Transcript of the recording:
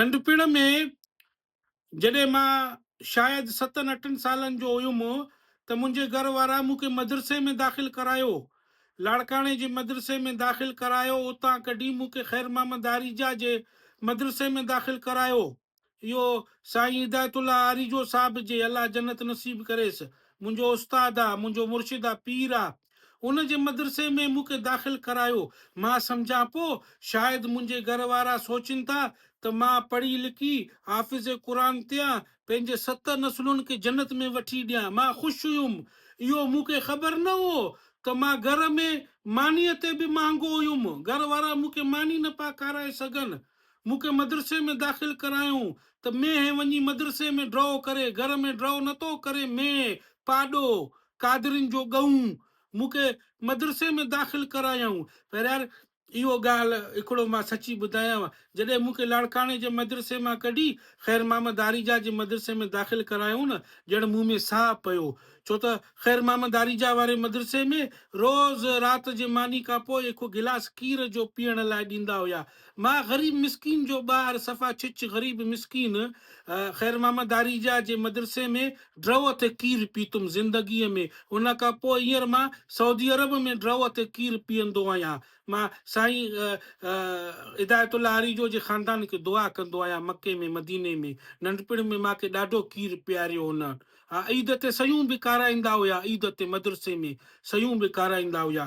ننڍپڻ ۾ جڏهن مان شايد ستن اٺن سالن جو هيم ته منهنجي گهر وارا مون کي مدرسي ۾ داخل ڪرايو. لاڙڪاڻي جي مدرسي ۾ داخل ڪرايو. اتان ڪڍي مون کي خيرمحمد آريجا جي مدرسي ۾ داخل ڪرايو. اهو سائين هدايت الله آريجو صاحب جي الله جنت نصيب ڪريس منهنجو استاد آ منهنجو مرشد آ پير آ ان جي مدرسي ۾ مون کي داخل ڪرايو مان سمجهان پو شايد منهنجي گهر وارا سوچين ٿا ته مان پڙهي لکي حافظ قرآن ٿيان پنهنجي ست نسلن کي جنت ۾ وٺي ڏيان مان خوش هيم اهو مون کي خبر نه هو ته مان گهر ۾ مانيء تي به مهانگو هيم گهر وارا مون کي ماني نه پا کارائي سگهن مون کي مدرسي ۾ داخل ڪرايون ته مينهن وڃي مدرسي ۾ ڊرئو ڪري گهر ۾ ڊرئو نه ٿو ڪري مينهن پاڏو قادرين جو ڳئون مون کي مدرسي ۾ داخل ڪرايائون پهريار اهو ڳالهه هڪڙو مان سچي ٻڌايانو جڏهن مون کي لاڙڪاڻي جي مدرسي مان ڪڍي خير محمد آريجا جي مدرسي ۾ داخل ڪرايائون نه ڄڻ مون ۾ ساهه پيو ڇو ته خير محمد آريجا واري مدرسي ۾ روز رات جي ماني کان پوء هڪ گلاس کير جو پيئڻ لاء ڏيندا هيا ماء غريب مسڪين جو ٻار صفا ڇچ غريب مسڪين خير محمد آريجا جي مدرسي ۾ ڊرئو تي کير پيتم زندگي ۾ ان کان پوء هينئر مان سعودي عرب ۾ ڊرئو تي کير پيئندو آهيان مان سائين هدايت الله آريجو جي خاندان کي دعا ڪندو آهيان مڪي ۾ مديني ۾ ننڍپڻ ۾ ماکي ڏاڍو کير پياريو هن ها عيد تي سيون به کارائيندا هيا عيد تي مدرسي ۾ سيون به کارائيندا هيا.